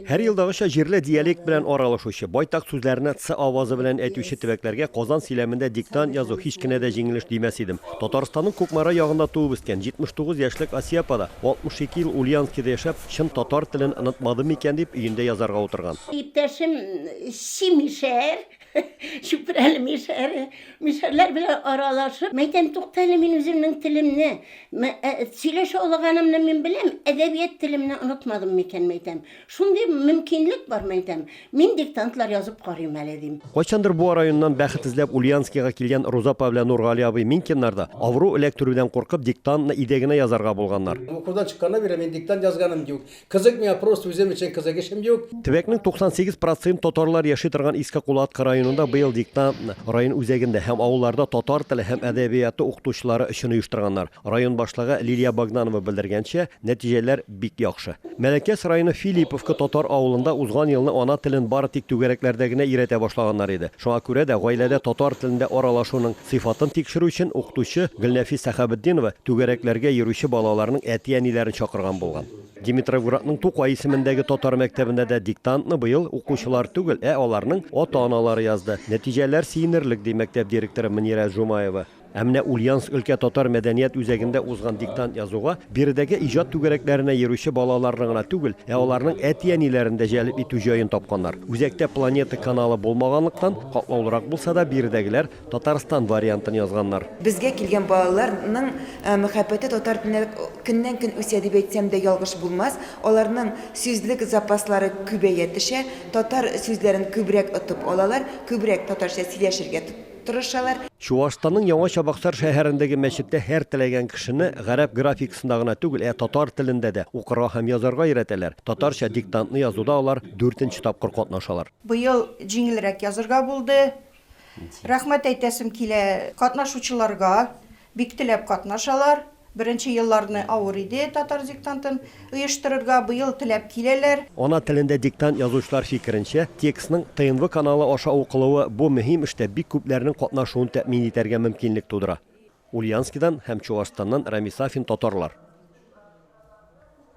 Һәр елдагыча җирле диалект белән аралашучы, байтак сүзләрне ц авазы белән әйтүче төбәкләргә Казан сөйләмендә диктант язу һич кенә дә җиңелеш димәс идем. Татарстанның Кукмара ягында туып үскән 79 яшьлек Асия апа да, 62 ел Ульяновскида яшәп, чын татар телен онытмадым микән дип, өендә язарга утырган. Иптәшем Симишәһәр Чүпрәле мишәре, мишәрләр белән аралашып, мәйтәм, туктале мин үземнең телемне, э, сөйләшә алганымны мин беләм, әдәбият телемне онытмадым микән, мәйтәм. Шундый мөмкинлек бар, мәйтәм. Мин диктантлар язып карыйм әле, дим. Кайчандыр Буа районыннан бәхет эзләп Ульянскига килгән Руза апа белән Нургали абый Минкиннар да авыру эләктерүдән куркып диктантны өйдә генә язарга булганнар. Укудан чыкканнан бирле мин диктант язганым юк. Кызык миңа просто үзем өчен кызык эшем юк. Төбәкнең 98 процент татарлар яши торган Иске Кулаткы районында быел диктантны район үзәгендә һәм авылларда татар теле һәм әдәбияты укытучылары өчен оештырганнар. Район башлыгы Лилия Богданова белдергәнчә, нәтиҗәләр бик яхшы. Мәләкәс районы Филипповка татар авылында узган елны ана телен бары тик түгәрәкләрдә генә өйрәтә башлаганнар иде. Шуңа күрә дә гаиләдә татар телендә аралашуның Сыйфатын тикшерү өчен укытучы Гөлнәфис Сәхәбетдинова түгәрәкләргә йөрүче балаларның әти-әниләрен чакырган булган. Димитровградның Тукай исемендәге татар мәктәбендә дә диктантны быел укучылар түгел, ә аларның ата-аналары язды. Нәтиҗәләр сөенерлек, ди мәктәп директоры Мөнирә Жумаева. Ә менә Ульяновск өлкә татар мәдәният үзәгендә узган диктант язуга биредәге иҗат түгәрәкләренә йөрүче балаларны гына түгел, ә аларның әти-әниләрен дә җәлеп итү җаен тапканнар. Үзәктә Планета каналы булмаганлыктан, Катлаулырак булса да, биредәгеләр Татарстан вариантын язганнар. Безгә килгән балаларның мәхәббәте татар теленә көннән-көн үсә дип әйтсәм дә ялгыш булмас. Аларның сүзлек запаслары күбәя төшә, татар сүзләрен күбрәк отып алалар, күбрәк татарча сөйләшергә тырышалар. Чуашстанның Яңа Чабаксар шәһәрендәге мәчеттә һәр теләгән кешене гарәп графикасында гына түгел, ә татар телендә дә укырга һәм язарга өйрәтәләр. Татарча диктантны язуда алар дүртенче тапкыр катнашалар. Быел җиңелрәк язырга булды. Рәхмәт әйтәсем килә катнашучыларга. Бик теләп катнашалар. Беренче елларны авыр иде татар диктантын оештырырга, быел теләп киләләр. Ана телендә диктант язучылар фикеренчә, текстның ТНВ каналы аша укылуы бу мөһим эштә бик күпләрнең катнашуын тәэмин итәргә мөмкинлек тудыра. Ульянскидан һәм Чуашстаннан Рамис Сафин татарлар.